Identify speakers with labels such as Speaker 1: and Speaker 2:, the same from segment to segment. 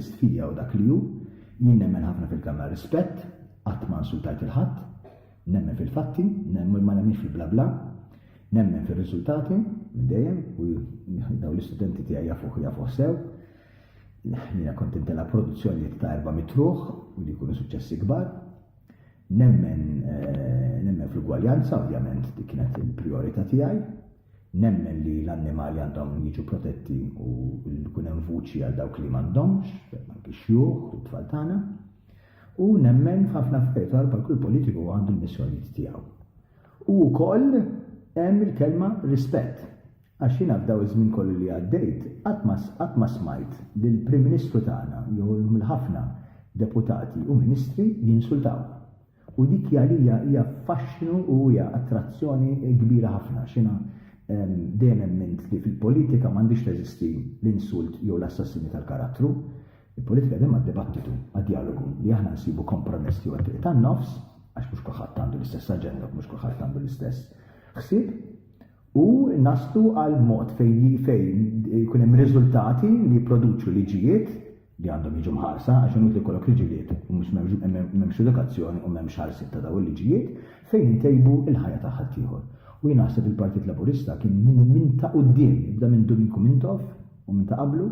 Speaker 1: L-artist fija u dak li hu, jien nemmen ħafna fil-kelma rispett, qatt ma insultajt lil ħadd, nemmen fil-fatti, nemmen ma nemminx fil-blabla, nemmen fir-riżultati minn dejjem u dawn l-istudenti tiegħi jafuh u jafuh sew. Jiena kont intela' produzzjonijiet ta' erba' mitruħ u li jkunu suċċessi kbar. Nemmen eh, nemmen fl-ugwaljanza, ovvjament, dik kienet il-prijorità tiegħi. Nemmen li l-annimali għandhom jiġu protetti u li jkun hemm vuċi għal dawk li m'għandhomx, anki x-xjuħ u t-tfal tagħna. U nemmen f'ħafna affarijiet oħra bħal kull politiku għandu l-missjonijiet tiegħu. U wkoll hemm il-kelma rispett. Għax jiena f'daw iż-żmien kollu li għaddejt qatt ma smajt lill-Prim Ministru tagħna jew lill-ħafna deputati u ministri jinsultaw. U dik għalija hija faxxnu u hija attrazzjoni kbira ħafna x'jiena dejjem emmint li fil-politika m'għandhiex teżisti l-insult jew l-assassinju tal-karattru. Il-politika dejjem għad-dibattitu, għad-djalogu, li aħna nsibu kompromess jew it-triq tan-nofs, għax mhux kulħadd għandu l-istess aġenda, mhux kulħadd għandu l-istess ħsieb, u naslu għal mod fejn jkun hemm riżultati li jipproduċu liġijiet li għandhom jiġu mħarsa għax inutli jkollok liġijiet u mhux m'hemmx edukazzjoni u m'hemmx ħarsien ta' dawn il-liġijiet fejn intejbu l-ħajja ta' ħaddieħor. U jien naħseb il-Partit Laburista kien minn ta' quddiem, jibda minn Domingo Mintoff u minn ta' qablu,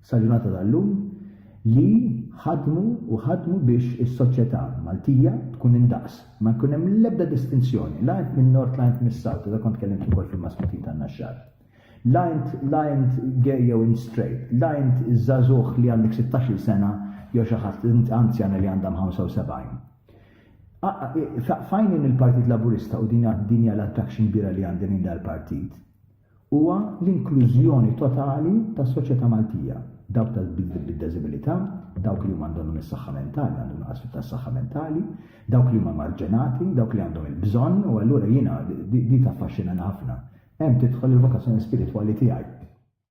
Speaker 1: sal-ġurnata tal-lum, li ħadmu u ħadmu biex is-soċjetà Maltija tkun indaqs, ma jkun hemm l-ebda distinzjoni, la int min-Nord la int mis-South, għadha kont tkellimt ukoll fil-Masmutin tan-Naxxar. La int la int gay jew int straight, la int żagħżugħ li għandek 16-il sena jew xi ħadd int anzjana li għandha 75. F'għajnejn il-Partit Laburista u din hija l-attraction kbira li għandi lejn dal-partit, huwa l-inklużjoni totali tas-soċjetà Maltija, dawk bid-deżibilità, dawk li huma għandhom is-saħħa mentali, għandhom nuqqas tas-saħħa mentali, dawk li huma marġinati, dawk li għandhom il-bżonn u allura jiena di taffaxxinani ħafna. Hemm tidħol il-vokazzjoni spiritwali tiegħi.